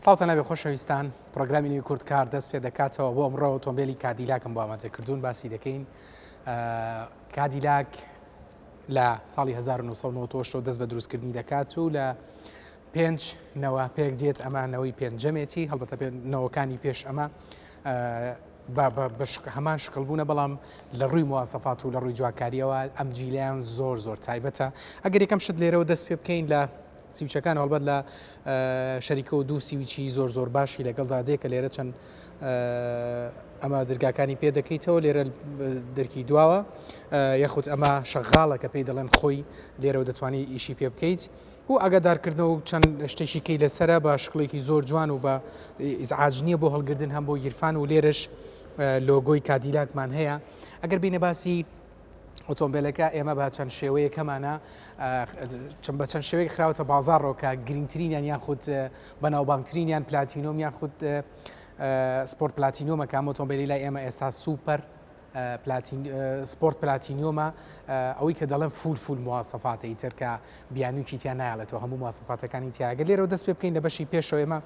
ساڵتە نەبێ خۆشەویستان پرۆگرامی نوی کورد کار دەست پێ دەکاتەوە بۆ ئەمڕۆ ئۆتۆمبیلی کادیلاکم بۆ ئاماجە کردوون باسی دەکەین کادیلاک لە ساڵی 1990 دەست بە دروستکردنی دەکات و لە پێنج نەوە پێک دێت ئەمانەوەی پێنجەمێتی هەڵبەتە پێنەوەکانی پێش ئەمە بە بە بە شک هەمان شکڵ بوونە بەڵام لە ڕووی مواسەفات و لە ڕووی جوانکارییەوە ئەم جیلیان زۆر زۆر تایبەتە ئەگەر یەکەم شت لێرەوە دەست پێ بکەین لە سیوچەکان هەڵبەت لە شەریکە و دوو سیوچی زۆر زۆر باشی لەگەڵدا دێ کە لێرە چەند ئەمە درگاکانی پێ دەکەیتەوە لێرە دەرکی دواوە یاخود ئەمە شەغاڵە کە پێی دەڵێن خۆی لێرەوە دەتوانانی ئیشی پێ بکەیت بۆ ئاگادار کردنەوە و چەند شتێکی کەی لەسەرە بە شکڵێکی زۆر جوان و بە ئیزعاج نییە بۆ هەڵگردن هەم بۆ گیرفان و لێرش لۆگۆی کادیلاکمان هەیە ئەگەر بینە باسی ئۆتۆمبیلەکە ئێمە بە چەند شێوەیە کەمانە چم بە چەند شێوەیە خراوەتە بازارڕۆکە گرنگترینیان یان خودت بەناوبانگترینیان پلاتینۆم یان خودت سپۆرت پلاتینۆمەکە ئۆتۆمبیلی لای ئێمە ئێستا سوپەر سپۆرت پلاتینیۆمە ئەوەی کە دەڵێن فول فول موواسەفاتە ئیتر کە بیانوکی تیا نایڵێتەوە هەموو موواسەفاتەکانی تیاگە لێرەوە دەست پێ بکەین لە بەشی پێشەوە ئێمە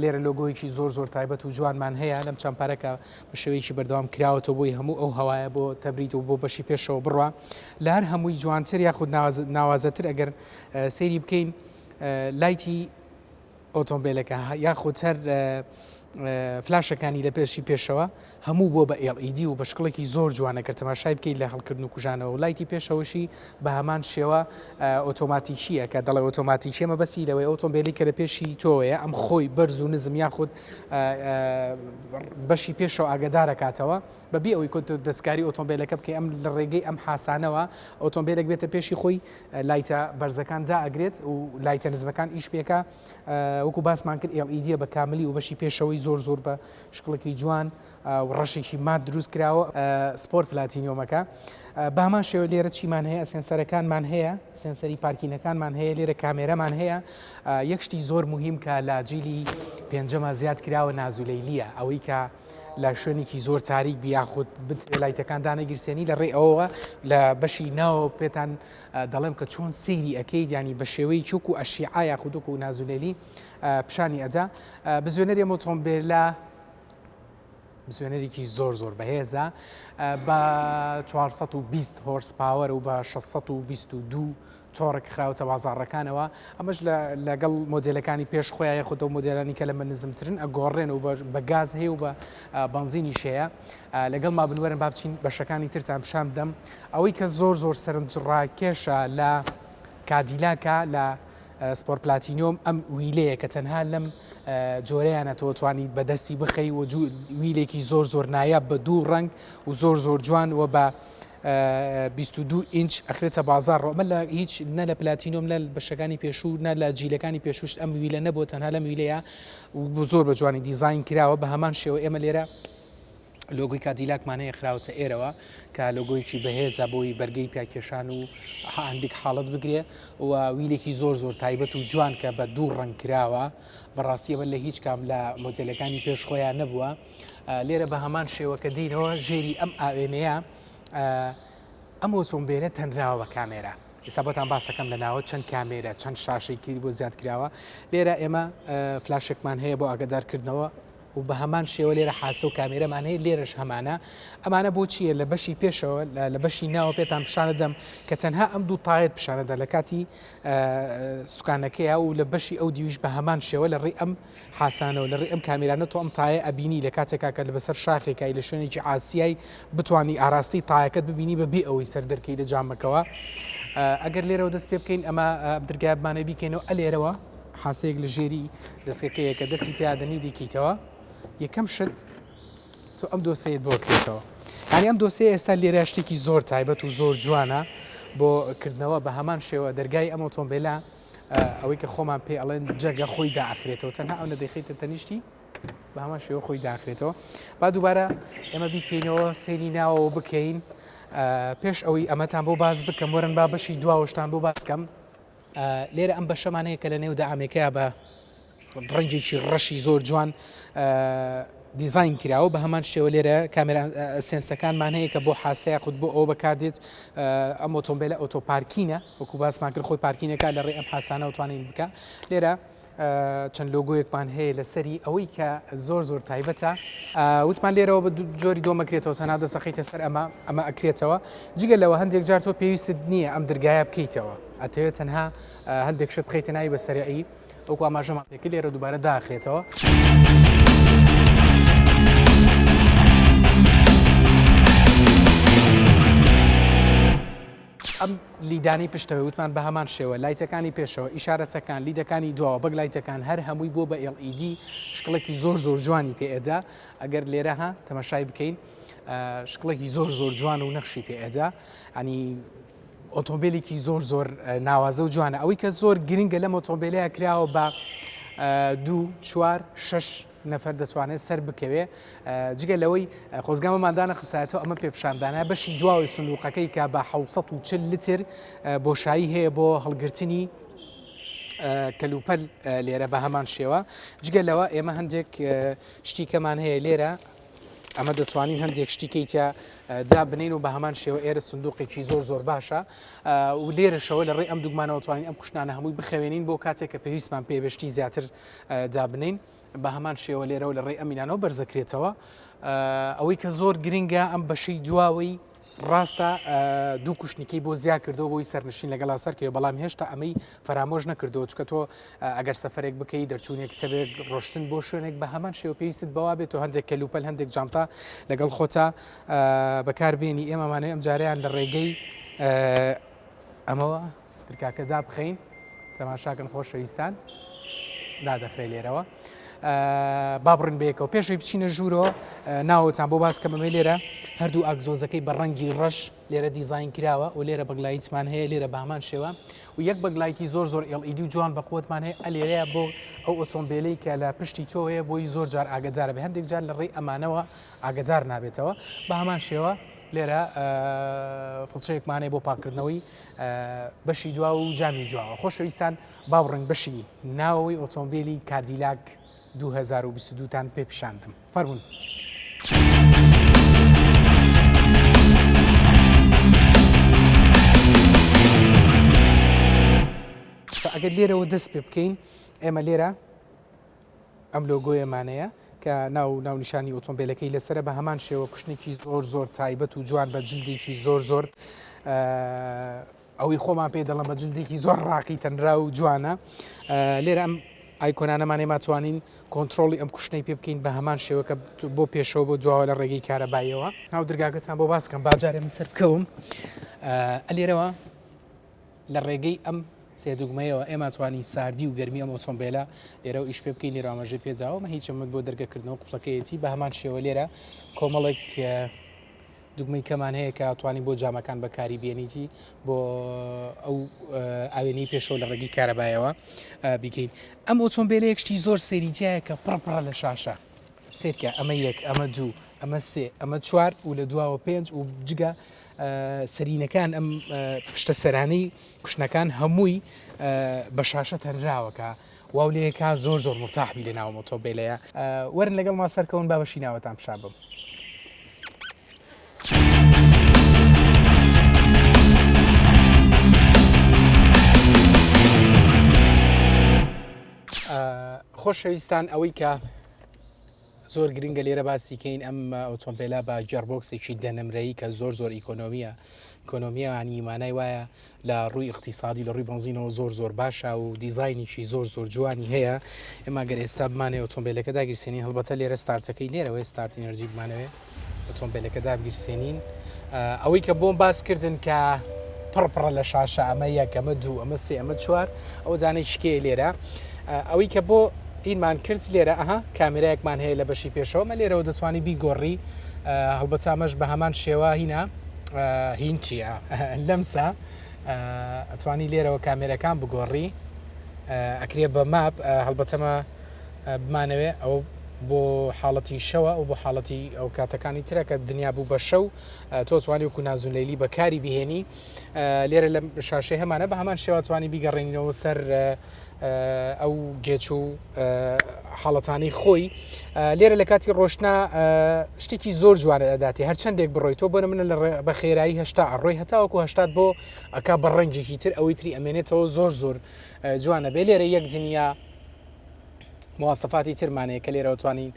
لێرە لۆگۆیەکی زۆر زۆر تایبەت و جوانمان هەیە لەم چەند پارەکە بە شێوەیەکی بەردەوام کراوەەوە بۆی هەموو ئەو هەوایە بۆ تەبریت و بۆ بەشی پێشەوە بڕە لە هەر هەمووی جوانتر یاخود ناوازەتر ئەگەر سەیری بکەین لایتی ئۆتۆمبێلەکە یاخود هەر فلاشەکانی لە پێشی پێشەوە هەموو بۆ بە ئێڵئیدی e و بە شکڵێکی زۆر جوانە کە تەماشای بکەیت لە هەڵکردن و کوژانەوە و لایتی پێشەوەشی بە هەمان شێوە ئۆتۆماتیکیە کە دەڵێ ئۆتۆماتیکیەمە بەسی لەوەی ئۆتۆمبیلی کە لە پێشی تۆەیە ئەم خۆی بەرز و نزم یاخود بەشی پێشەوە ئاگدارەکاتەوە بەبی ئەوەی کۆت دەستکاری ئۆتۆمبیلەکە بکەی ئەم لە ڕێگەی ئەم حسانەوە ئۆتۆمبیلێک بێتە پێشی خۆی لایتە بەرزەکان دائەگرێت و لایتە نزمەکان ئیش پێکا وەکو باسمان کرد LED بە کاملی و بەشی پێشەوەی زۆر زۆر بە شکڵێکی جوان و ڕەشێکی مات دروست کراوە سپۆر پلاتینیۆمەکە بە هەمان شێوە لێرە چیمان هەیە سێنسەرەکانمان هەیە سێنسەری پارکینەکانمان هەیە لێرە کامێرەمان هەیە یەک شتی زۆر مهم کە لاجیلی پێنجەمە زیاد کراوە نازولەیلیە ئەوەی کە لە شوێنێکی زۆر تاریک بی یاخود بتوێ لایتەکان دانەگیرسێنی لە ڕێ ئەوەوە لە بەشی ناوە پێتان دەڵێم کە چۆن سەیری ئەەکەی دیانی بە شێوەی چوک و ئەشیعا یاخودک و نازولێلی پیشانی ئەدا بزوێنەری مۆتۆمبێلا بزوێنەرێکی زۆر زۆر بەهێزە بە 420 هۆرس پاوەر و بە 622 تۆڕک خراوتە بازاڕەکانەوە ئەمەش لە لەگەڵ مۆدێلەکانی پێش خۆیان یاخود ئەو مۆدێلانی کە لەمە نزمترن ئەگۆڕێن و بە گاز هەیە و بە بەنزینی شەیە لەگەڵ ما بنوەرن با بچین بەشەکانی ترتان پیشان بدەم ئەوەی کە زۆر زۆر سەرنجڕاکێشە لە کادیلاکە لە سپۆر پلاتینۆم ئەم ویلەیە کە تەنها لەم جۆرەیانە تۆ توانیت بەدەستی بخەی و ویلێکی زۆر زۆر نایاب بە دوو ڕنگ و زۆر زۆر جوان و بە بیست و دوو ئینچ ئەخرێتە بازاڕ ئەمە لە هیچ نە لە پلاتینۆم نە بەشەکانی پێشوو نە لە جیلەکانی پێشوشت ئەم ویلە نەبووە تەنها لەم ویلەیە بۆ زۆر بە جوانی دیزین کراوە بە هەمان شێوە ئێمە لێرە لۆگوی کادیلاکمان هەیە خراوەتە ئێرەوە کە لۆگۆیکی بەهێزە بۆی بەرگەی پیاکێشان و هەندێک حاڵت بگرێ و ویلێکی زۆر زۆر تایبەت و جوان کە بە دوو ڕنگ کراوە بەڕاستیەوە لە هیچ کام لە مۆجلەکانی پێش خۆیان نەبووە لێرە بە هەمان شێوە کە دینەوە ژێری ئەم ئاوێنەیە ئەم ئۆتۆمبیلە تەنراوە بە کامێرا ئێستا بۆتان باسەکەم لە ناوە چەند کامێرە چەند شاشەی تری بۆ زیاد کراوە لێرە ئێمە فلاشێکمان هەیە بۆ ئاگدارکردنەوە و بە هەمان شێوە لێرە حاسە و کامێرەمان هەیە لێرەش هەمانە ئەمانە بۆچیە لە بەشی پێشەوە لە بەشی ناوە پێتان پیششانە دەم کە تەنها ئەم دوو تاەت پیششانەدا لە کاتی سوکانەکەی و لە بەشی ئەو دیویش بە هەمان شێوە لە ڕێ ئەم حاسانەوە لەڕێی ئەم کامێرانە تۆ ئەم تایە ئەبینی لەکاتێکا کە لەبەسەر شاخێکای لە شوێنێکی ئاسیای بتوانی ئاراستەی تایەکەت ببینی بەبێ ئەوەی سەر دەرکەی لە جامەکەوە ئەگەر لێرەوە دەست پێ بکەین ئەمە درگای بمانە بیکەینەوە ئەلێرەوە حاسەیەک لە ژێری دەستەکەیە کە دەستی پیادەنی دیکەیتەوە یەکەم شت تۆ ئەم دۆسەیەت بۆ کرێتەوە هەنی ئەم دۆسەیە ئێستا لێرە شتێکی زۆر تایبەت و زۆر جوانە بۆ کردنەوە بە هەمان شێوە دەرگای ئەم ئۆتۆمبیلە ئەوەی کە خۆمان پێ ئەڵێن جەگە خۆی داخرێتەوە تەنها ئەو نەدەخیتە تەنیشتی بە هەمان شێوە خۆی داخرێتەوە با دووبارە ئێمە بیکەینەوە سێری ناوەوە بکەین پێش ئەوەی ئەمەتان بۆ باز بکەم وەرن با بەشی دواوەشتان بۆ باسکەم لێرە ئەم بەشەمانەیە کە لە نێو دامێکەیە بە ڕەنگێکی ڕەشی زۆر جوان دیزاین کراوە بە هەمان شێوە لێرە کامێرا سێنسەکانمان هەیە کە بۆ حاسەیە خود بۆ ئەوە بەکاردێت ئەم ئۆتۆمبیلە ئۆتۆپارکینە وەکو باسمان کرد خۆی پارکینەکە لە ڕێ ئەم حسانە توانین بکە لێرە چەند لۆگویەکمان هەیە لەسەری ئەوەی کە زۆر زۆر تایبەتە وتمان لێرەوە بە جۆری دۆمەکرێتەوە تەنا دەسەقیتە سەر ئەمە ئەمە ئەکرێتەوە جگە لەوە هەندێک جار تۆ پێویست نییە ئەم درگایە بکەیتەوە ئەتەوێت تەنها هەندێک شت بخیتە ناوی بە سەرعی وەکو ئاماژەمان پێ کرد لێرە دووبارە داخرێتەوە. ئەم لیدانی پشتەوەی وتمان بە هەمان شێوە لایتەکانی پێشەوە ئیشارەتەکان لیدەکانی دواوە بەگ لایتەکان هەر هەمووی بۆ بە LED شکڵێکی زۆر زۆر جوانی پێئدا ئەگەر لێرە ها تەمەشای بکەین شکڵێکی زۆر زۆر جوان و نەخشی پێئدا ئەنی ئۆتۆمبێلێکی زۆر زۆر ناوازە و جوانە ئەوەی کە زۆر گرنگە لەم ئۆتۆمبێلەیە کراوە بە دوو چوار شش نەفەر دەتوانێت سەر بکەوێ جگە لەوەی خۆزگامەماندانە خستایەتەوە ئەمە پێپشاندانە بەشی دواوەی سندوقەکەی کە بە 1940 لتر بۆشایی هەیە بۆ هەڵگرتنی کەلوپەل لێرە بە هەمان شێوە جگە لەوە ئێمە هەندێک شتیکەمان هەیە لێرە ئەمە دەتوانین هەندێک شتی کەی تیا دابنین و بە هەمان شێوە ئێرە سندوقێکی زۆر زۆر باشە و لێرەشەوە لە ڕێ ئەم دوگمانەوە توانین ئەم کوشتانە هەمووی بخەوێنین بۆ کاتێک کە پێویستمان پێبشتی زیاتر دابنین بە هەمان شێوە لێرەوە لە ڕێ ئەمینانەوە بەرزەکرێتەوە ئەوەی کە زۆر گرنگە ئەم بەشەی دواوەی ڕاستە دوو کوشتنیکەی بۆ زیا کردەوە بۆی سەرنشین لەگەڵا سەرکەوە بەڵام هێشتا ئەمەی فەرامۆش نەکردەوە چکە تۆ ئەگەر سەفرێک بکەی دەرچوونێک چەبێک ڕۆشتن بۆ شوێنێک بە هەمان شێو پێویست بەوا بێت و هەندێک کەلوپەل هەندێک جانتا لەگەڵ خۆتا بەکاربیێنی ئێمەمانەوەی ئەم جاریان لە ڕێگەی ئەمەوە ترکاکە دابخەین تەماشاکەن خۆشەویستان دادەخرێ لێرەوە با بڕین بەیەکەوە پێشەوەی بچینە ژوورۆ ناوەتان بۆ باس کەمەمە لێرە هەردوو ئاگزۆزەکەی بە ڕەنگی ڕەش لێرە دیزین کراوە و لێرە بەگلایتمان هەیە لێرە بامان شێوە و یەک بەگلایتی زۆر زۆر ئێڵئیدی و جوان بەقوتمان هەیە ئەلێرەیە بۆ ئەو ئۆتۆمبیلی کە لە پشتی تۆەیە بۆی زۆر جار ئاگدار بە هەندێک جار لە ڕێی ئەمانەوە ئاگدار نابێتەوە بە هەمان شێوە لێرە فڵچەیەکمانەیە بۆ پاکردنەوەی بەشی دوا و جامی دواوە. خۆشەویستان باو ڕەنگ بەشی ناوەوەی ئۆتۆمبیلی کاردیلاک 2022 تان پێ پیشاندم فەرمونون. ئەگەر لێرەوە دەست پێ بکەین ئێمە لێرە. ئەم لۆگۆیەمانەیە کە ناو و ناونیشانی ئۆتۆمبێلەکەی لەسەرە بە هەمان شێوە کوشتنێکی زۆر زۆر تایبەت و جوان بە جلدێکی زۆر زۆر ئەوەی خۆمان پێ دەڵم بە جلدێکی زۆر ڕاقی تەنرا و جوانە لێرە ئەم ئایکۆنانەمانێ ماتوانین کۆنتترۆلی ئەم کوشتنەی پێ بکەین بە هەمان شێوەکە بۆ پێشەوە بۆ دواوە لە ڕێگەی کارەبایەوە ناو درگاکەتان بۆ باسکەم باجارێ من سەر بکەوم ئەلێرەوە لە ڕێگەی ئەم سێ دوگمەیەوە ئێمە توانی ساردی و گەرمی ئەم ئۆتۆمبیلە لێرە و ئیش پێ بکەین لێرە ئاماژەی پێداوە مە هیچ چەمک بۆ دەرگەکردنەوە قفلەکەیەتی بە هەمان شێوە لێرە کۆمەڵێک دوگمەی کەمان هەیە کە توانی بۆ جامەکان بەکاری بێنیتی بۆ ئەو ئاوێنەی پێشەوە لە ڕێگەی کارەبایەوە بیکەین ئەم ئۆتۆمبیلەیەک شتی زۆر سەریتیایە کە پڕپڕە لە شاشە سێرکە ئەمە یەک ئەمە دوو ئەمە سێ ئەمە چوار و لە دواوە پێنج و جگە سەرینەکان ئەم پشتە سەرانی کوشنەکان هەمووی بە شاشە تەنراوە کە واو لێ کا زۆر زۆر مرتاحبی لە ناومە تۆ بێلەیە وەرن لەگەڵ ما سەرکەون با بەشی ناوەتان پیشابم. خۆشەویستان ئەوەی کە زۆر گرنگە لێرە باسی کەین ئەم ئۆتۆمبیلە بە گێڕبۆکسێکی دە نمرەیی کە زۆر زۆر ئیکۆنۆمیە کۆنۆمیانی مانای وایە لە ڕووی اقتصادی لە ڕووی بنزینەوە زۆر زۆر باشە و دیزینیکی زۆر زۆر جوانی هەیە ئێماگەر ئێستا بمانێ ئۆتۆمبیلەکە داگیرسێنین هەڵبەتە لێرە ستارتەکەی لێرەوەی ستارتی نەرجی بمانەوێ ئۆتۆمبێلەکە دابگیرسێنین ئەوەی کە بۆم باس کردن کە پڕپڕە لە شاشە ئەمە یەک ئەمە دوو ئەمە سێ ئەمە چوار ئەو جانەی شکێ لێرە ئەوەی کە بۆ ئینمان کرد لێرە ئەها کامێرایەکمان هەیە لە بەشی پێشەوەمە لێرەوە دەتوانانی بیگۆڕی هەڵبەتامەش بە هەمان شێوە هینا هین چییە لەمسا ئەتوانی لێرەوە کامێرەکان بگۆڕی ئەکرێ بە ماپ هەڵبەتەمە بمانەوێ ئەوە بۆ حاڵەتی شەوە ئەو بۆ حاڵەتی ئەو کاتەکانی ترە کە دنیا بوو بە شەو تۆ توانی وکو نازولەیلی بەکاری بهێنی لێرە لە شاشەی هەمانە بە هەمان شێواتوانی بیگەڕێنینەوە سەر ئەو گێچ و حاڵەتانی خۆی لێرە لە کاتی ڕۆشنا شتێکی زۆر جوانە ئەداتی هەرچەندێک بڕۆی تۆ بۆە منە لە بە خێرایی هشتا ئەڕۆی هەتاوەکو هشتات بۆ ئەک بە ڕەنگێکی تر ئەوەی تری ئەمێنێتەوە زۆر زۆر جوانە بێ لێرە یەک دنیا مواسەفاتی ترمان هەیە کە لێرەوە توانین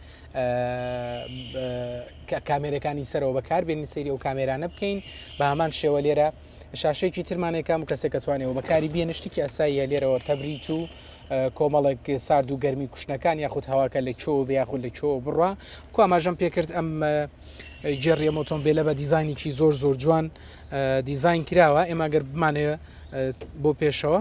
کامێرەکانی سەرەوە بەکاربێنین سەیری و کامێرانە بکەین بە هەمان شێوە لێرە شاشێکی ترمانێکم کەسێک کەتوانێەوە بەکاری بێنە شتێکی ئاساییە لێرەوە تەبریت و کۆمەڵێک سارد و گەرمی کوشتەکان یاخود هەواکە لە چۆ بیاخود لە چۆ بڕە کو ئاماژەم پێکرد ئەم جێڕی ئەمۆتۆمبیلە بە دیزانێکی زۆر زۆر جوان دیزین کراوە ئێماگەر بمانەیە بۆ پێشەوە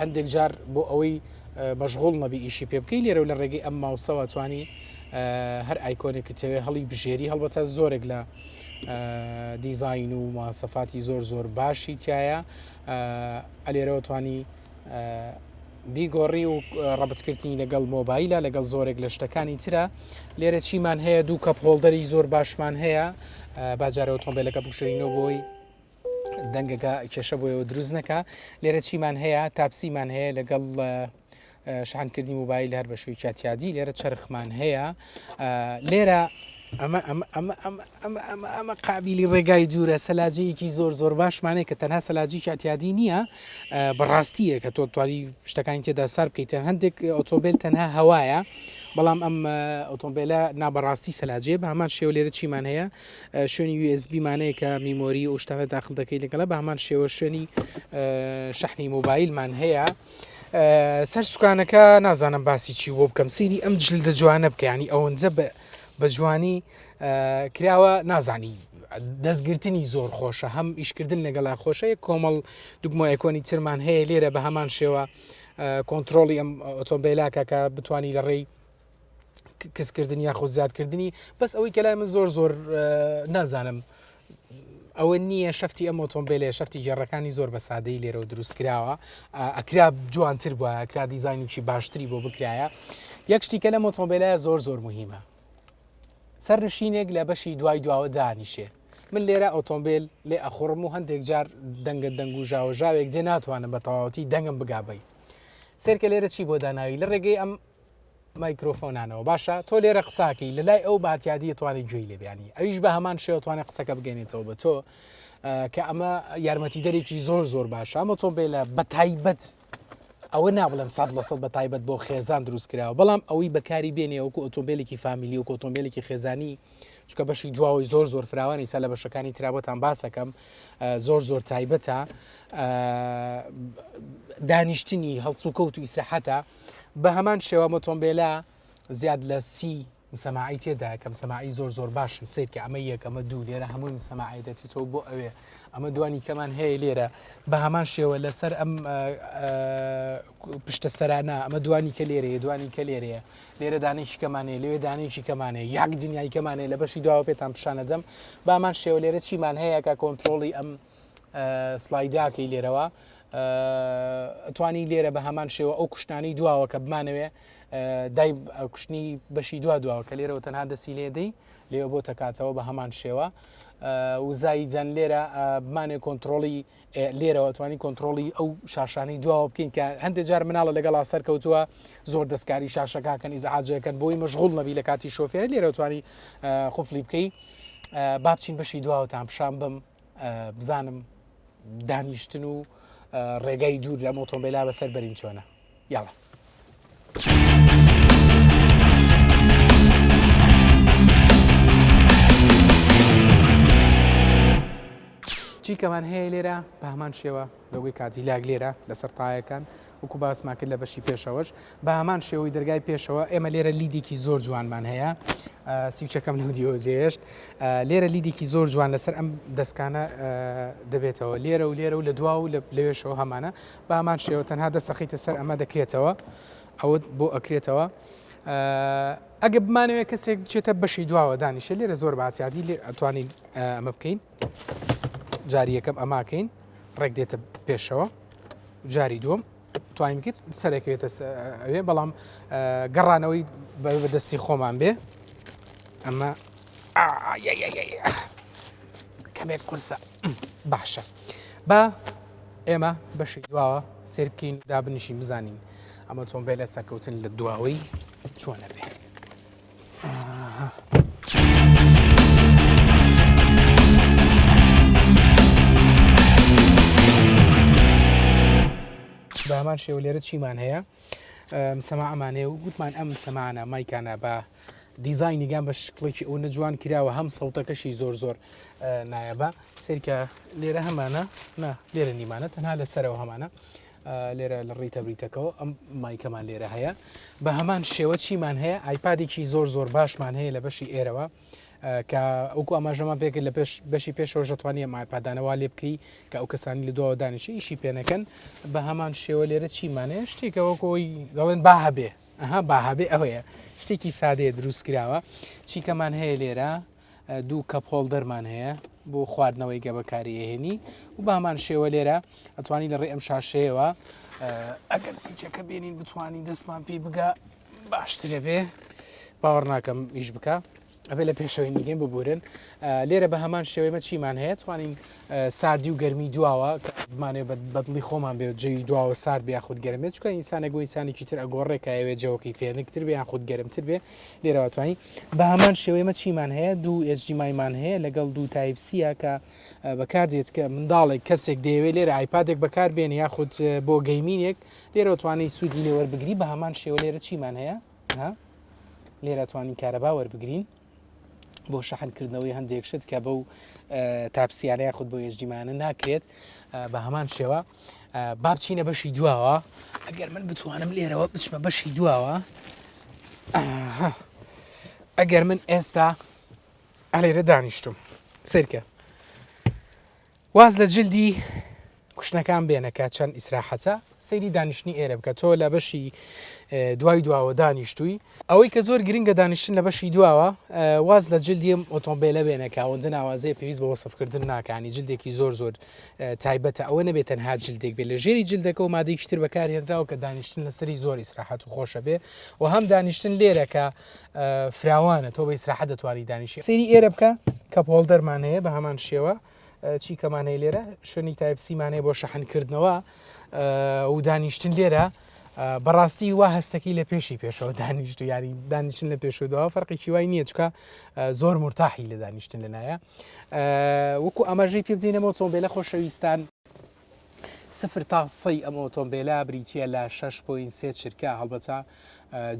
هەندێک جار بۆ ئەوەی مەشغول نەبی ئیشی پێ بکەی لێرە لە ڕێگەی ئەم ماوسەوە توانی هەر ئایکۆنێکی تەوێ هەڵی بژێری هەڵبەتە زۆرێک لە دیزین و مواسەفاتی زۆر زۆر باشی تایە ئەلێرەوە توانی بیگۆڕی و ڕەبتکردنی لەگەڵ مۆبایلە لەگەڵ زۆرێک لە شتەکانی ترە لێرە چیمان هەیە دوو کەپ هۆڵدەری زۆر باشمان هەیە باجارەوە تۆمبیلەکە بکشێنەوە بۆی دەنگەکە کێشە بۆیەوە دروست نەکە لێرە چیمان هەیە تاپسیمان هەیە لەگەڵ شحانکردنی موبایل هەر بە شووی کاتیادی لێرە چرخمان هەیە لێرە ئەمە ئەمە قابلی ڕێگای دوورە سەلاجەیەکی زۆر زۆر باشمانەیە کە تەنها سەلاجی کاتیادی نییە بەڕاستیە کە تۆ توانی شتەکانی تێدا سار بکەیت تەن هەندێک ئۆتۆبیل تەنها هەوایە بەڵام ئەم ئۆتۆمبیلە نابەڕاستی سەلاجێ بە هەمان شێو لێرە چیمان هەیە شوێنی یو ئێس بی مانەیە کە میمۆری ئەو شتانە داخل دەکەی لەگەڵە بە هەمان شێوە شوێنی شەحنی مۆبایلمان هەیە سەر سوکانەکە نازانم باسی چی بۆ بکەم سیری ئەم جل دە جوانە بکەیانی ئەوەنجە بە جوانی کراوە نازانی دەستگرتنی زۆر خۆشە هەم ئیشکردن لەگەڵا خۆشەیە کۆمەڵ دوگمە ئەکۆنی ترمان هەیە لێرە بە هەمان شێوە کۆنتترۆڵی ئەم ئۆتۆمبیلاکە کە بتانی لە ڕێی کەسکردن یاخود زیادکردنی بەس ئەوەی کە لای من زۆر زۆر نازانم ئەوە نییە شفتی ئەم ئۆتۆمبیلێ شفتی گێڕەکانی زۆر بە سادەی لێرەوە دروست کراوە ئەکرا جوانتر بووە کرا دیزانینکی باشتری بۆ بکرایە یەک شتیکە لە ئۆتۆمبیلە زۆر زۆر مهمە سەر نشینێک لە بەشی دوای دواوە دانیشێ من لێرە ئۆتۆمبیل لێ ئەخڕم و هەندێک جار دەنگە دەنگ و ژاوەژاوێک جێ ناتوانم بە تەواوەتی دەنگم بگابی سێرکە لێرە چی بۆ داناوی لە ڕێگەی ئەم مایکرۆفۆنانەوە باشە تۆ لێرە قساکەی لە لای ئەو باتیادی توانێت گوێی لێبیانی ئەویش بە هەمان شێوە توانێت قسەکە بگەێنێتەوە بە تۆ کە ئەمە یارمەتی دەرێکی زۆر زۆر باشە ئەمە تۆ بێ لە بە تایبەت ئەوە نابڵێم سە لە سەد بە تایبەت بۆ خێزان دروست کراوە بەڵام ئەوەی بەکاری بێنێ وەکو ئۆتۆمبیلێکی فامیلی و کۆتۆمبیلێکی خێزانی چکە بەشی دواوەی زۆر زۆر فراوانی سا لە بەشەکانی ترابەتان باسەکەم زۆر زۆر تایبەتە دانیشتنی هەڵسوکەوت و ئیسراحەتە بە هەمان شێوە مۆتۆمبیلە زیاد لە سی مسەماعی تێدا کەم سەماعی زۆر زۆر باشن سیر کە ئەمە یەک ئەمە دوو لێرە هەمووی مسەماعی دەچیتەوە بۆ ئەوێ ئەمە دوانی کەمان هەیە لێرە بە هەمان شێوە لەسەر ئەم پشتە سەرانە ئەمە دوانی کە لێرە دوانی کە لێرەیە لێرە دانێکی کەمانەیە لەوێ دانێکی کەمانەیە یاک دنیای کەمانەیە لە بەشی داوا پێتان پیششانەدەم بامان شێوە لێرە چیمان هەیە کە کۆنتترۆڵی ئەم سڵایداکەی لێرەوە ئەتوانی لێرە بە هەمان شێوە ئەو کوشتانی دواوە کە بمانەوێ دای کوشتنی بەشی دو دواوە کە لێرەوە تەنها دەسی لێدەی لێوە بۆ تەکاتەوە بە هەمان شێوە وزایی جەن لێرە بمانێ کۆنتترۆڵی لێرەوە توانی کۆنتترۆڵی ئەو شاشانەی دواوە بکەین کە هەندێک جار مناڵە لەگەڵا سەرکەوتووە زۆر دەستکاری شاشەکەکەن ئیزعاجەکەن بۆی مەشغول نەبی لە کاتی شۆفێر لێرەوە توانی خفلی بکەی بابچین بەشی دواوەتان پیشان بم بزانم دانیشتن و ڕێگای دوور لە مۆتۆمبیلا بەسەر بەرین چۆنە یاڵە. چیکەمان هەیە لێرە بە هەمان شێوە لۆگۆی کادیلاک لێرە لەسەر تایەکان وەکو باسمان کرد لە بەشی پێشەوەش بە هەمان شێوەی دەرگای پێشەوە ئێمە لێرە لیدێکی زۆر جوانمان هەیە سیوچەکەم لە دیۆجێشت لێرە لیدێکی زۆر جوان لەسەر ئەم دەستکانە دەبێتەوە لێرە و لێرە و لە دوا و لە لەوێشەوە هەمانە بە هەمان شێوە تەنها دەسەخیتە سەر ئەمە دەکرێتەوە ئەوت بۆ ئەکرێتەوە ئەگە بمانەوێت کەسێک بچێتە بەشی دواوە دانیشە لێرە زۆر باتیادی لێ ئەتوانین ئەمە بکەین جاری یەکەم ئەماکەین ڕێک دێتە پێشەوە جاری دووەم توانین کرد سەرێکێتە ئەوێ بەڵام گەڕانەوەی بەدەستی خۆمان بێ ئەمە کەمێک قورسە باشە بە ئێمە بەشی دواوە سێر بکەین و دابنیشین بزانین ئەمە چۆن بێ لە سەرکەوتن لە دواوەی چۆنە بێ بامان شێوە لێرە چیمان هەیە سەما ئەمانەیە و گوتمان ئەم سەمانە مایکانە بە دیزایینیگان بە شکڵێکی ئەو نەجوان کراوە هەم سەوتەکەشی زۆر زۆر نایەبە سەرکە لێرە هەمانە نا لێرە نیمانە تەنها لەسەرەوە هەمانە لێرە لە ڕیتە بریتەکەەوە ئەم مایکەمان لێرە هەیە بە هەمان شێوە چیمان هەیە ئایپادێکی زۆر زۆر باشمان هەیە لە بەشی ئێرەوە کە ئەوکو ئاماژەمان پێکرد لە پێش بەشی پێشەوە ژەتوانی ئەم ئایپادانەوە لێ بکری کە ئەو کەسانی لە دووە دانیشی ئیشی پێنەکەن بە هەمان شێوە لێرە چیمانێ شتێکەوە کۆی دەڵێن با هەبێ ئەها با هەبێ ئەوەیە شتێکی سادەیە دروستکراوە چیکەمان هەیە لێرە دوو کەپ هۆڵدەرمان هەیە بۆ خواردنەوەی گە بەکاری ئەهێنی و بەمان شێوە لێرە ئەتوانی لە ڕێ ئەم شاشەیەوە ئەگەر سیچەکە بێنین بتانی دەستمان پێی بگا باشترە بێ باوەڕ ناکەم ئیش بکە ئەبێ لە پێشەوەی نیگەین ببورن لێرە بە هەمان شێوەی مەچیمان هەیە توانین ساردی و گەرمی دواوە بمانێ بەدڵی خۆمان بێت جەوی دواوە سارد بیا خود گەرمێت چکە ئینسانە گۆ ئینسانێکی تر ئەگۆڕێکایەوێ جەوەکەی فێنکتر بێ یان خود گەرمتر بێ لێرەوەتوانین بەهەمان شێوە ئێمە چیمان هەیە دوو HDMIمان هەیە لەگەڵ دوو تایپ سیە کە بەکاردێت کە منداڵێک کەسێک دەیەوێت لێرە ئایپادێک بەکاربێن یاخود بۆ گەیمینێک لێرەوەتوانی سوودی لێ وەربگری بە هەمان شێوە لێرە چیمان هەیە لێرەتوانین کارەبا وەربگرین بۆ شەحنکردنەوەی هەندێک شت کە بەو تاپسیانە یاخود بۆ یشدیمانە ناکرێت بە هەمان شێوە با بچینە بەشی دواوە ئەگەر من بتوانم لێرەوە بچمە بەشی دواوە ئەگەر من ئێستا ئەلێرە دانیشتم سرکە واز لە جلدی کوشتنەکان بێنەکە چەند ئیسراحەتە سەیری دانیشتنی ئێرە بکە تۆ لە بەشی دوای دواوە دانیشتووی ئەوەی کە زۆر گرنگە دانیشتن لە بەشی دواوە واز لە جلدیم ئۆتۆمبیلە بێنەکە ئەوەندە ناوازەیە پێویست بە وەسفکردن ناکانی جلدێکی زۆر زۆر تایبەتە، ئەوە نەبێ تەنها جلدێک بێ، لە ژێری جلدەکە و مادەیەکی تر بەکارهێنراوە کە دانیشتن لەسەری زۆر ئیسراحەت و خۆشە بێ و هەم دانیشتن لێرەکە فراوانە تۆ بە ئیسراحە دەتوانانی دانیشی سری ئێرە بکە کە پۆڵدەرمان هەیە بە هەمان شێوە چی کەمان هەیە لێرە شوێنی تایبسیمان هەیە بۆ شەحنکردنەوە و دانیشتن لێرە بەڕاستی وا هەستەکەی لە پێشی پێشەوە دانیشت و یاری دانیشتن لە پێشوداوە فەرقی چیوای نییە چکە زۆر مرتاحی لە دانیشتن لەلایە وەکو ئاماژەی پێ بدەین ئەم ئۆتۆمبێلە خۆشەویستان سفر تا سەی ئەم ئۆتۆمبێلە بریتە لە 6.3 چرکە هەڵبەتە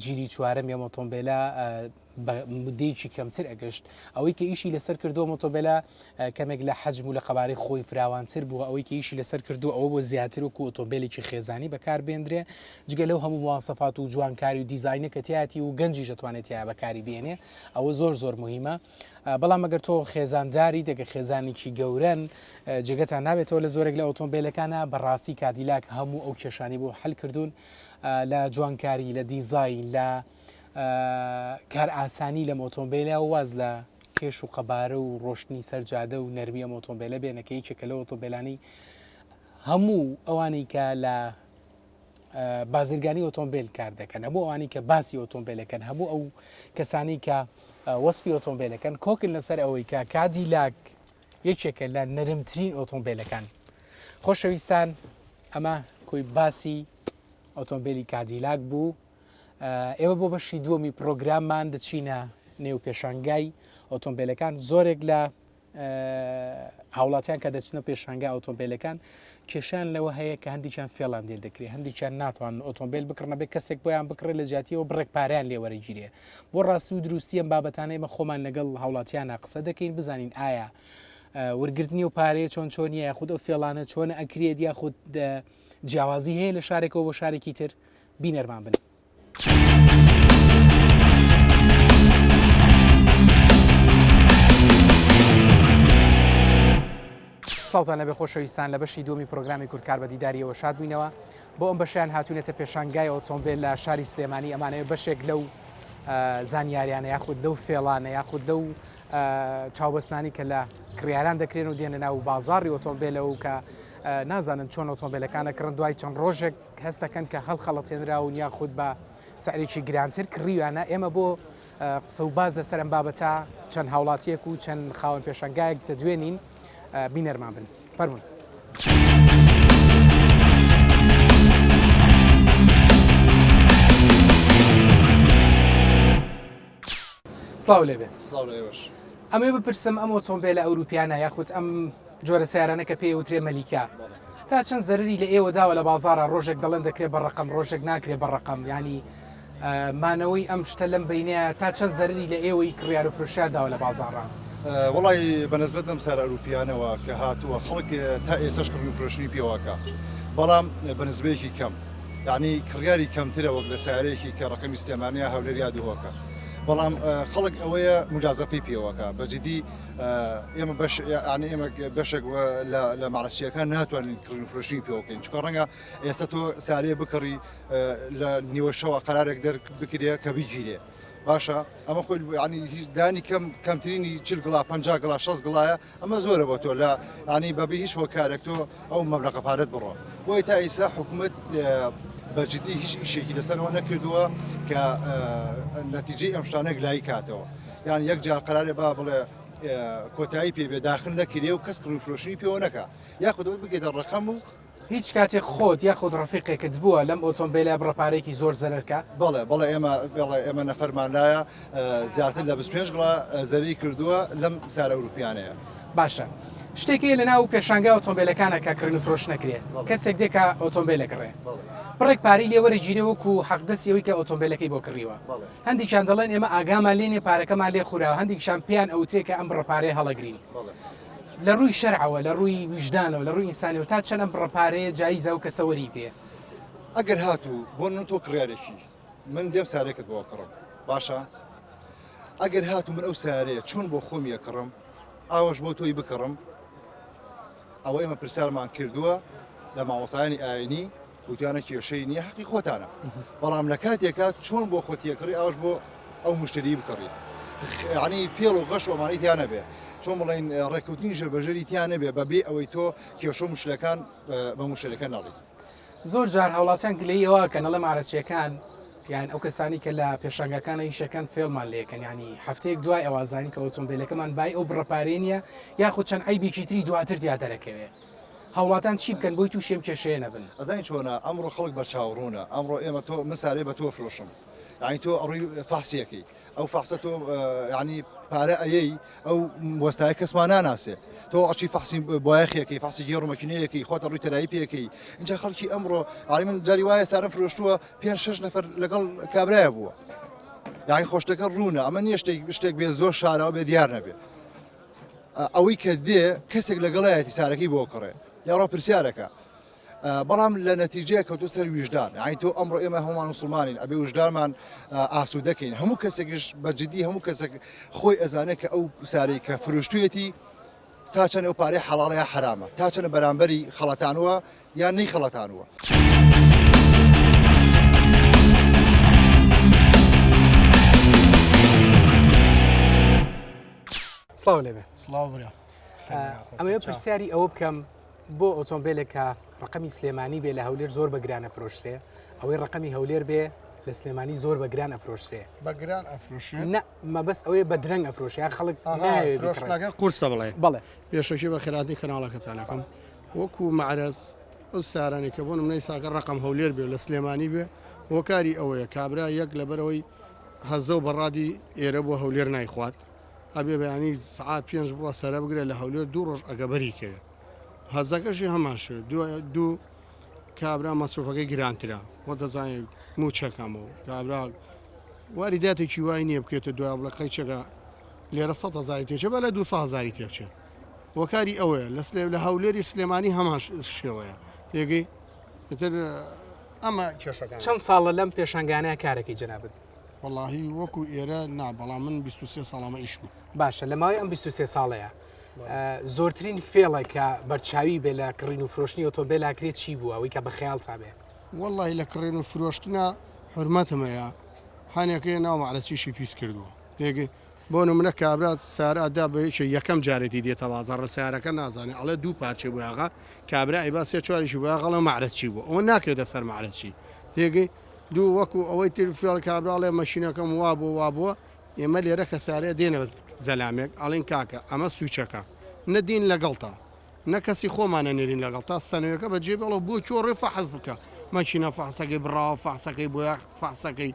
جیلی چوارەم یە ئۆتۆمبێلە بە مدەیەکی کەمتر ئەگەشت ئەوەی کە ئیشی لەسەر کردو مۆتۆبلە کەمێک لە حەجم و لە قەبارەی خۆی فراوانتر بووە ئەوەی کە ئیشی لەسەر کردو ئەوە بۆ زیاتر و ئۆتۆمبیلێکی خێزانی بەکار بێندرێ جگە لەو هەموو موواسەفات و جوانکاری و دیزینەکەتیاتی و گەنجی دەتوانێت یا بەکاری بێنێ ئەوە زۆر زۆر مهمە بەڵام ئەگەر تۆ خێزانداریت ئەگەر خێزانێکی گەورەن جێگەتان نابێتەوە لە زۆرێک لە ئۆتۆمبیلەکانە بەڕاستی کادیلاک هەموو ئەو کێشانی بۆ حل کردوون لە جوانکاری لە دیزای لە کار ئاسانی لە مۆتۆمبیلە واز لە کێش و قەبارە و ڕۆشتنی سەرجادە و نەرمیە مۆتۆمبیلە بێنەکە یەکێکە لە ئۆتۆمبیلانی هەموو ئەوانی کە لە بازرگانی ئۆتۆمبیل کار دەکەن هەموو ئەوانی کە باسی ئۆتۆمبیلەکەن هەموو ئەو کەسانی کە وەسپی ئۆتۆمبیلەکەن کۆکن لەسەر ئەوەی کە کادی لاک یەکێکە لە نەرمترین ئۆتۆمبیلەکان خۆشەویستان ئەمە کۆی باسی ئۆتۆمبیلی کادیلاک بوو ئێوە بۆ بەشی دووەمی پرۆگراممان دەچینە نێو پێشانگای ئۆتۆمبیلەکان زۆرێک لە هاوڵاتیان کە دەچنە پێشانگا ئۆتۆمبیلەکان کێشان لەوە هەیە کە هەندێکیان فێڵان دێ دەکرێت هەندێکیان ناتوان ئۆتۆمبیل بکڕنە بێت کەسێک بۆیان بکڕێت لە جاتیەوە بڕێک پاریان لێوەرەگیرێ بۆ ڕاستی و دروستی ئەم بابەتانەی مە خۆمان لەگەڵ هاوڵاتیانە قسە دەکەین بزانین ئایا وەرگرتنی و پارەیە چۆن چۆنیە یاخود ئەو فێڵانە چۆن ئەکرێت یاخود جیاوازی هەیە لە شارێکەوە بۆ شارێکی تر بینەرمان بن. سڵاوتان لەبێ خۆشەویستان لە بەشی دومی پرۆگرامی کوردکار بە دیداریەوە شاد بووینەوە بۆ ئەم بەشیان هاتوونێتە پێشانگای ئۆتۆمبیل لە شاری سلێمانی ئەمانەیە بەشێک لەو زانیاریانە یاخود لەو فێڵانە یاخود لەو چاوبەستانی کە لە کڕیاران دەکرێن و دێنە ناو بازاری ئۆتۆمبیلەوە کە نازانن چۆن ئۆتۆمبیلەکانە کڕن دوای چەند ڕۆژێک هەست دەکەن کە هەڵخەڵەتێنراون یاخود بە سعرێکی گرانتر کڕیویانە، ئێمە بۆ قسە و باس لەسەر ئەم بابەتە چەند هاوڵاتییەک و چەند خاوەن پێشەنگایەک دەدوێنین، بینەرمان بن. فەرموون. سڵاو لێبێ. سڵاو لە ئێوەش. ئەمەوێ بپرسم ئەم ئۆتۆمبێلە ئەوروپییانە یاخود ئەم جۆرە سیارانە کە پێی ئەوترێ مەلیکە تا چەند زەرری لە ئێوە داوە لە بازارە ڕۆژێک دەڵێن دەکرێ بە ڕقم ڕۆژێک ناکرێ بە ڕقم ینی مانەوەی ئەم شتە لەم بینەیە تا چەند زەرری لە ئێوەی کڕیار و فرشیا داوە لە بازارە وڵی بەنسبەت ئەم سارە ئەوروپیانەوە کە هاتووە خەڵک تا ئێسش کڕی و فرۆشنی پێواکە بەڵام بەنسبەیەکی کەم یعنی کڕیاری کەمترە وەک لە سارەیەکی کە ڕقمی سلێمانیا هەولێریا دهۆکە بەڵام خەڵک ئەوەیە مجازەفی پێوەکە بەجددی ئێمە ئەنی ئێمە بەشێک لە ماڵسیەکان ناتوانین کڕین فرۆشی پێوەکەین چکە ڕەنگە ئێستا تۆ سارێ بکڕی لە نیوەشەوە قرارێک دەر بکرێ کە بگیرێ باشە ئەمە خۆی ینی هیچ دانی کەم کەمترینی چل گڵا پ گڵا 6 گڵایە ئەمە زۆرە بۆ تۆ لە ینی بەبی هیچ هۆکارێک تۆ ئەو مەبلەقە پارەت بڕۆ بۆی تا ئیسا حکوومەت بەجددی هیچ شتێکی لەسەرەوە نەکردووە کە نەتیجەی ئەم شتانە گلایی کاتەوە. یان یەک جار قەرارێ با بڵێ کۆتایی پێ بێ داخل نەکرێ و کەس کڕوی فرۆشی پێوە نەکە یاخودەوە بگێتە ڕقەم و هیچ کاتێک خۆت یاخود ڕفیقێکت بووە لەم ئۆتۆمبیلە بڕە پارێکی زۆر زەرکە بەڵێ بەڵێ ئێمە بەڵێ ئێمە نەفەرمان لایە زیاتر لە 25 گڵا زەری کردووە لەم سارە ئەوروپیانەیە باشە. شتێکی لە ناو پێشانگا ئۆتۆمبیلەکانە کە کڕین و فرۆش نەکرێت کەسێک دێکا ئۆتۆمبیلەکڕێ بڕێک پاری لێوەری گیرێ وەکو حەقدەسی ئەوی کە ئۆتۆمبیلەکەی بۆ کڕیوە هەندێکیان دەڵێن ئێمە ئاگامان لێ نیە پارەکەمان لێ خوراوە، هەندێکیشان پێیان ئەوترێ کە ئەم بڕە پارەیە هەڵەگرین. لە ڕووی شەرعەوە، لە ڕووی ویژدانەوە، لە ڕووی ئینسانیەوە تا چەند ئەم بڕە پارەیە جایزە ئەو کەسە وەریگرێ؟ ئەگەر هاتوو بۆ من تۆ کڕیارێکی من دێم سارێکت بۆ کڕم باشە؟ ئەگەر هاتوو من ئەو سارەیە چۆن بۆ خۆم یە کڕم ئاوەش بۆ تۆی بکڕم ئەوە ئێمە پرسیارمان کردووە لە مامۆسایانی ئاینی وتیانە کێشەی نیە حەقی خۆتانە بەڵام لە کاتێکا چۆن بۆ خۆ تێکڕی ئەوش بۆ ئەو مشتری بکڕی یعنی فێڵ و غەش ئەمانەی تیا نەبێ چۆن بڵین ڕێکوتنی ژەبەژەری تیا نەبێ بەبێ ئەوەی تۆ کێشە مشلەکان بە مشتەکە نەڵی زۆر جار هاوڵاتیان گلەی ئەوە کە نەڵێ مارەچیەکان یان ئەو کەسانی کە لە پێشنگەکان ئیشەکەن فێڵمان لەکەن ینی هەفتەیەک دوای ئەوازانی کە ئۆتۆمبیلەکەمان بای ئەو بڕەپارێ نیە یاخود چەند ئەیبیکی تری دواتر دیا دەرەکەوێت. هاوڵاتان چی بکەن بۆی توشی ئەم کێشەیە نەبن؟ ئەزانی چۆنە ئەمڕۆ خەڵک بەرچاو ڕوونە ئەمڕۆ ئێمە تۆ من سارێ بە تۆ فرۆشم یعنی تۆ ئەڕووی فەحسیەکەی ئەو فەحسە تۆ یعنی پارە ئەیەی ئەو وەستای کەسمان ناناسێ تۆ ئەچی فەحسی بایەخیەکەی فەحسی گێڕمەکینەیەکەی خۆتە ڕووی تەرایی پێەکەی اینجا خەڵکی ئەمڕۆ ئاری من جاری وایە سارە فرۆشتووە پێ شش نەفر لەگەڵ کابراە بووە داهی خۆشتەکە ڕوونە ئەمە نیە شتێک شتێک بێ زۆر شارەوە بێ دیار نەبێت ئەوەی کە دێ کەسێک لەگەڵایەتی سارەکەی بۆ کڕێ یاڕۆ پرسیارەکە بەڵام لە نەتیجەیە کەوتو سەر ویژدان ئای تۆ ئەمڕۆ ئێمە هەمووان مسلمانین ئەبێ وژدانمان ئاسو دەکەین هەموو کەسێکیش بە جددی هەموو کەسێک خۆی ئەزانێت کە ئەو سارەی کە فرۆشتویەتی تا چەند ئەو پارەی حەڵاڵەیە حرامە تا چەند بەرامبەری خەڵەتانوە یان نەی خەڵەتانووە. سڵاو لێبێ سڵاو برا ئەمەوێ پرسیاری ئەوە بکەم بۆ ئۆتۆمبیلێکە ڕقمی سلێمانی بێ لە هەولێر زۆر بەگرانە فرۆشتێ ئەوەی ڕقمی هەولێر بێ لە سلێمانی زۆر بە گران ئەفرۆشرێ بەگران ئەفرۆشێ مەبەست ئەوەیە بە درەنگ ئەفرۆشیان خەڵک قورسە بڵێ بەڵێ پێشەکی بە خراتی کەناڵەکەتانەکەم وەکو مەعرەز ئەو سارانەی کە بۆ نمونەی ساکە ڕەقەم هەولێر بێ لە سلێمانی بێ هۆکاری ئەوەیە کابرا یەک لەبەرەوەی هەزە و بەڕادی ئێرە بۆ هەولێر نایخوات ئەبێ بەیانی سعات پێنج بڕە سەرە بگرێت لە هەولێر دوو ڕۆژ ئەگەبەری کرد هەزەکەشی هەمان شێ دوو کابرا مەسروفەکەی گرانترا وە دەزانین موچەکەمەوە کابرا واری داتێکی وای نییە بکرێتە دوای بڵەکەی چەکە لێرە سە هزاری تێچە بە لە دو هزاری تێبچێت هۆکاری ئەوەیە لە سلێ لە هەولێری سلێمانی هەمان شێوەیە پێگەی تر ئەمە کێشەکان چەند ساڵە لەم پێشنگانەیە کارێکی جنابن وڵی وەکو ئێرە نا بەڵام من 23 ساڵامە ئیشم باشە لە ماوەی ئەم 23 ساڵەیە زۆرترین فێڵە کە بەرچاوی بێ لە کڕین و فرۆشتنی ئۆتۆبێلاکرێت چی بووە ئەوی کە بە خەیاڵ تا بێ وەڵی لە کڕێن و فرۆشتنە حرمەتمەیە هەنێکەیە ناومەعرەسیشی پیس کردووە پێگەی بۆ نمونە کابرا سارا دا بە یەکێ یەکەم جارێتی دێتە بازاڕ سارەکە نازانێ ئەڵێ دوو پارچەی بۆ یاغا کابرا ئەیبا سێ چواریشی بۆ یاغەڵە مەعرەج چی بوو ئەوە ناکرێتە سەر مەعرەج چی تێگەی دوو وەکو ئەوەی تر فێڵ کابراڵێ مەشینەکەم وا بۆ وا بووە ئێمە لێرە کە سارێ دێنە زەلامێک ئەڵین کاکە ئەمە سوچەکە نەدین لەگەڵتا نەکەسی خۆمانە نێرین لەگەڵ تا سەنوێکە بە جێبێڵە بۆ چۆڕێ فەحز بکە مەچینە فەحسەکەی بڕاوە فەحسەکەی بۆ فەحسەکەی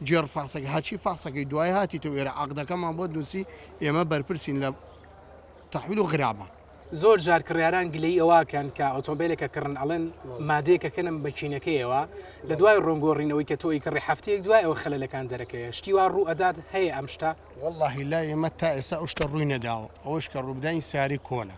جێڕ فاسەکە ها چی فاسەکەی دوای هاتیتەوە ئێرە عەقدەکەمان بۆت نووسی ئێمە بەرپرسین لە تەحویل و غرابە. زۆر جار کڕیاران گلەی ئەوەکەن کە ئۆتۆمبیلەکە کڕن ئەڵێن مادەیەکە کەنم بە چینەکەیەوە لە دوای ڕۆنگۆڕینەوەی کە تۆی کڕی هەفتەیەک دوای ئەوە خەلەکان دەرەکەوێت شتی وا ڕوو ئەدات هەیە ئەم شتە واللهی لای ئێمە تا ئێستا ئەو شتە ڕووی نەداوە ئەوەش کە ڕووبداین سیاری کۆنە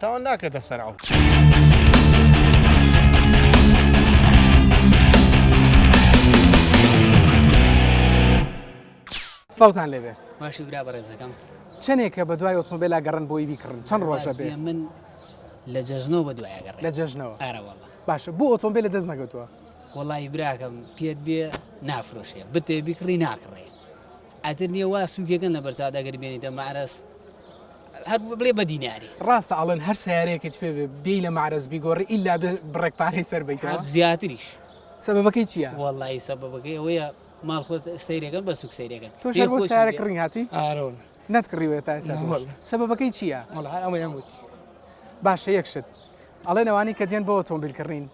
تاوان ناکەتە سەر ئەو. سڵاوتان لێبێ باشی برا بەڕێزەکەم چەندێکە بە دوای ئۆتۆمبیلا گەڕن بۆی بیکڕن چەند ڕۆژە بێ من لە جەژنەوە بە دوای گەڕ لە جەژنەوە ئارەوەڵە باشە بۆ ئۆتۆمبیل لە دەست نەگەتووە وڵی براکەم پێت بێ نافرۆشێ بتێ بیکڕی ناکڕێ ئەتر نیە وا سوکێکەن لە بەرچاوت ئەگەر بێنیتە مەعرەز هەر بڵێ بەدی ناری. ڕاستە ئەڵێن هەر سەیارەیەکت پێ بێ بێی لە مەعرەز بیگۆڕی ئیلا بێ بڕێک پارەی سەر بەیتەوە؟ هەر زیاتریش. سەبەبەکەی چییە؟ وەڵڵاهی سەبەبەکەی ئەوەیە ماڵ خۆت سەیرێ کەن بە سوک سەیرێ کەن. تۆش هەر بۆ سەیارە کڕین هاتی؟ ئارە وەڵڵا. نەتکڕیوە تا ئێستا؟ نە وەڵڵا. سەبەبەکەی چییە؟ وەڵڵا هەر ئەوەیان گوت. باشە یەک شت ئەڵێن ئەوانەی کە دێن بۆ ئۆتۆمبیل کڕین،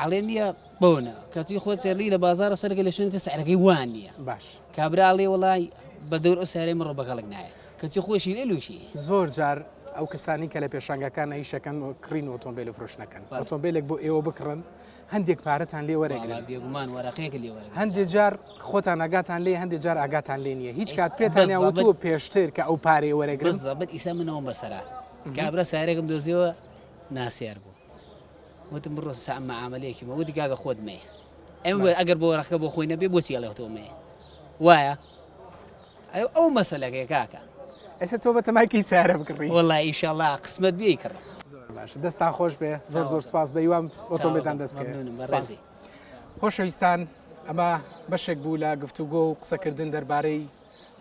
ئەڵێ نییە بۆنە کەچی خۆ چێلی لە بازارە سەرگە لە شوێنکە سعرەکەی وان نییە باش کابرا ئەڵێ وڵی بە دەور ئەو سارەی مڕۆ بەگەڵک نایە کەچی خۆشی لێ لوشی زۆر جار ئەو کەسانی کە لە پێشانگەکان ئەیشەکەن و کڕین ئۆتۆمبیل و فرۆشنەکەن ئۆتۆمبیلێک بۆ ئێوە بکڕن هەندێک پارەتان لێ وەرەگرن بێگومان وەرەقەیەک لێ وەرە هەندێک جار خۆتان ئاگاتان لێ هەندێک جار ئاگاتان لێ نییە هیچ کات پێتان وتووە پێشتر کە ئەو پارەی وەرەگرن زەبەت ئیسە منەوە بەسەرا کابرا سارێکم دۆزیەوە ناسیار بوو وتم بڕۆ سا مەعامەلەیەکی مە وتی کاکە خۆت مەیە ئەم وە ئەگەر بۆ ڕەخکە بۆ خۆی نەبێ بۆچی ئەڵێ تۆ مەیە وایە ئەو ئەو مەسەلەکەی کاکە ئێستا تۆ بە تەمایکی سارە بکڕی وڵی ئیشەڵا قسمەت بێ کڕ باش دەستان خۆش بێ زۆر زۆر سپاس بە یوام ئۆتۆمبیلدان دەستکەێت خۆشەویستان ئەمە بەشێک بوو لە گفتوگۆ و قسەکردن دەربارەی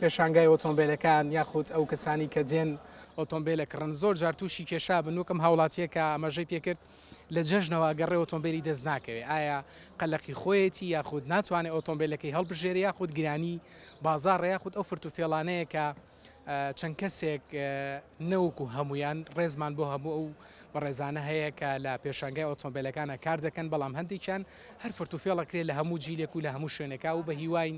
پێشانگای ئۆتۆمبێلەکان یاخود ئەو کەسانی کە دێن ئۆتۆمبێلە کڕن زۆر جار تووشی کێشا بن وەکم هاوڵاتیە کە ئەمەژەی پێکرد لە جەژنەوە گەڕێ ئۆتۆمبێلی دەست ناکەوێت ئایا قەلەقی خۆیەتی یاخود ناتوانێت ئۆتۆمبێلەکەی هەڵبژێری یاخود گرانی بازار یاخود ئەو فرت و فێڵانەیە کە چەند کەسێک نەوەکو هەمویان ڕێزمان بۆ هەموو ئەو بەڕێزانە هەیە کە لە پێشنگای ئۆتۆمبیلەکانە کار دەکەن بەڵام هەندێکیان هەر فرت و فێڵەکرێت لە هەموو جیلێک و لە هەموو شوێنەکە و بە هیواین